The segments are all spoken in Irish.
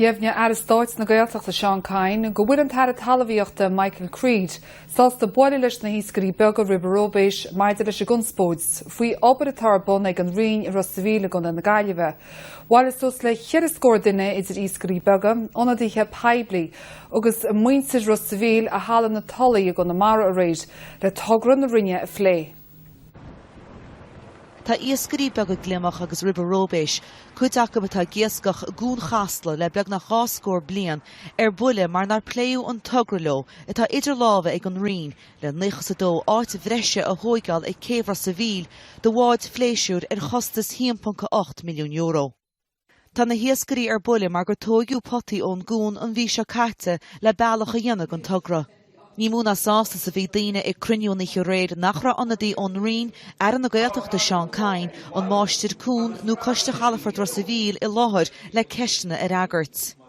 Dheimhnigh Aire Stáit na Gaeltachta Seán Kyne go bhfuil an tAire Talmhaíochta Michael Creed sásta bualadh leis na hiascairí beaga ribe róibéis maidir leis an gconspóid faoi obair atá ar bun ag an Roinn i Ros a Mhíl i gContae na Gaillimhe. Bhailigh suas le cheithre scór duine idir iascairí beaga, ionadaithe poiblí agus muintir Ros a Mhíl i Halla na Tulaí i gConamara aréir le togra na Roinne a phlé. Tá iascairí beaga gliomach agus ribe róibéis, cuid acu atá ag iascach i gCuan Chasla le beagnach dhá scór bliain, ar buile mar nár pléadh an togra leo atá idir lámha ag an Roinn le naocha is a dó áit bhreise a thóigeáil ag Céibh Ros a' Mhíl do bháid phléisiúir ar chostas €1.8 milliún. Tá na hiascairí ar buile mar gur tóigeadh potaí ón gcuan an mhí seo caite le bealach a dhéanamh don togra. Ní mó ná sásta is a bhí daoine ag cruinniú an oíche aréir nach raibh ionadaí ón Roinn, Aire na Gaeltachta Seán Kyne, an Máistir Cuan nó Coiste Chalafort Ros a' Mhíl i láthair le ceisteanna a fhreagairt.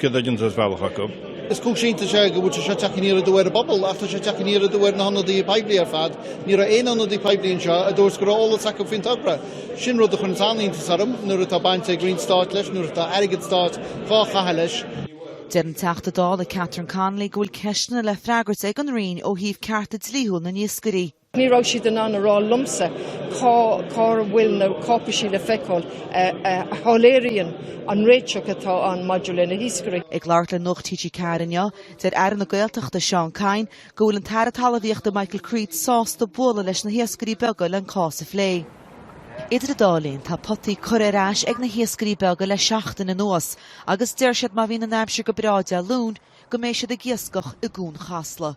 Céard a dhéantar as bealach acu? Is cúis iontais é go bhfuil sé seo ag teacht aniar aduaidh ar an bpobal, ach tá sé ag teacht aniar aduaidh ar na hionadaithe poiblí ar fad. Ní raibh aon ionadaí poiblí anseo a dúirt go raibh eolas acu faoin togra. Sin rud a chuireanns an-iontas orm nuair atá baint ag Roinn Stáit leis, nuair atá airgead stáit dhá chaitheamh leis. Deir an Teachta Dála Catherine Connolly go bhfuil ceisteanna le freagairt ag an Roinn ó thaobh cearta dlíthiúil na n-iascairí. Ní raibh siad in ann a rá liomsa cá bhfuil na cáipeisí le feiceáil a shoiléiríonn an réiteach atá ann maidir le na hiascairí. Ag labhairt le Nuacht TG4 inniu, deir Aire na Gaeltachta Seán Kyne go bhfuil an tAire Talmhaíochta Michael Creed sásta bualadh leis na hiascairí beaga le an cás a phlé. Idir an dá linn, tá potaí curtha ar ais ag na hiascairí beaga le seachtain anuas agus deir siad má bhíonn an aimsir go breá Dé Luain go mbeidh siad ag iascach i gCuan Chasla.